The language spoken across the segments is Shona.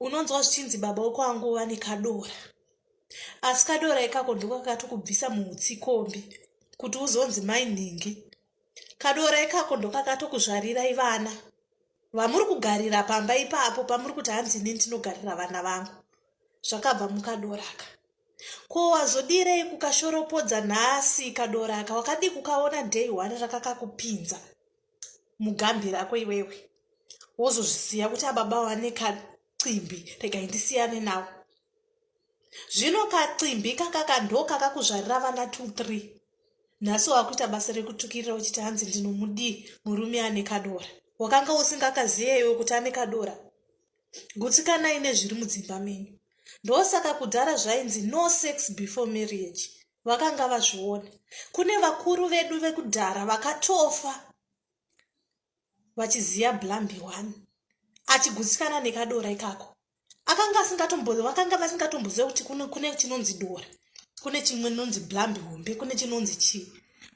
unonzwa zvichinzi baba wako angova nekadora asi kadora ikako ndiko kakatokubvisa muutsikombi kuti uzonzi mai nhingi kadora ikako ndokakatokuzvarirai vana vamuri kugarira pamba ipapo pamuri kuti hanzi ini ndinogarira vana vangu zvakabva mukadoraka ko wazodirei kukashoropodza nhasi kadoraka wakadii kukaona day one rakakakupinza mugambira ako iwewe wozozvisiya kuti ababa wane kacimbi regai ndisiyane nawo zvino kacimbi kakaka ndokakakuzvarira vana two three nhasi wakuita basa rekutukirira uchiti hanzi ndinomudii murume ane kadora wakanga usingakaziye iwe kuti ane kadora gutsikanai nezviri mudzimba menyu ndosaka kudhara zvainzi no sex before marriage vakanga vazviona kune vakuru vedu vekudhara vakatofa vachiziva blambi one achigutsikana nekadora ikako akanga asingatombozi vakanga vasingatomboziva kuti kune, kune chinonzi dora kune chimwe nonzi blambi hombe kune chinonzi chii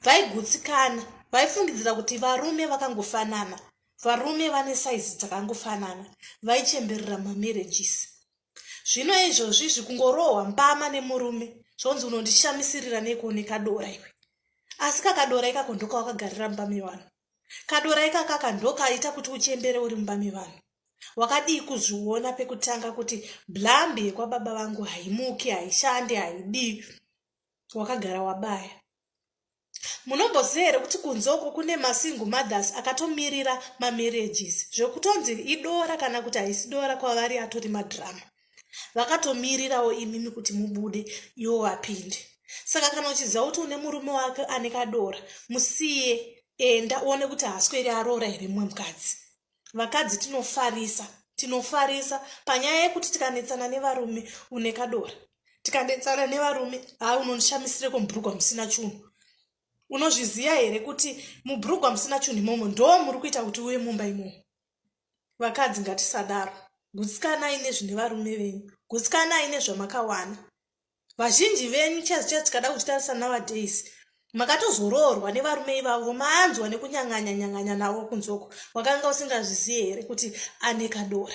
vaigutsikana vaifungidzira kuti varume vakangofanana varume vane saizi dzakangofanana vaichemberera mamarriages zvino izvozvi izvi kungorohwa mbama nemurume zvonzi unondishamisirira neko nekadora iwe asi kakadora ikako ndokawakagarira mumba mevanhu kadora ikakaka ndokaita kuti uchembere uri mumba mevanhu wakadii kuzviona pekutanga kuti blambi yekwababa vangu haimuki haishande haidii wakagara wabaya munomboziva here kuti kunze uko kune masingle mothers akatomirira mamarriages zvekutonzi idora kana kuti haisi dora kwavari atori madhirama vakatomirirawo imimi kuti mubude iwo vapinde saka kana uchiziva kuti une murume wake ane kadora musiye enda uone kuti haasweri aroora here mumwe mukadzi vakadzi tinofarisa tinofarisa panyaya yekuti tikanetsana nevarume une kadora tikanetsana nevarume ha unondishamisireko mubhurugwa musina chunhu unozviziva here kuti mubhurugwa musina chunhu imomo ndo muri kuita kuti uye mumba imomo vakadzi ngatisadaro gutsikanai nezvine varume venyu gutsikanai nezvamakawana vazhinji venyu chaz chaz tikada kuchitarisa nowadays makatozoroorwa nevarume ivavo maanzwa nekunyang'anya nyang'anya navo kunzoko wakanga usingazvizive here kuti ane kadora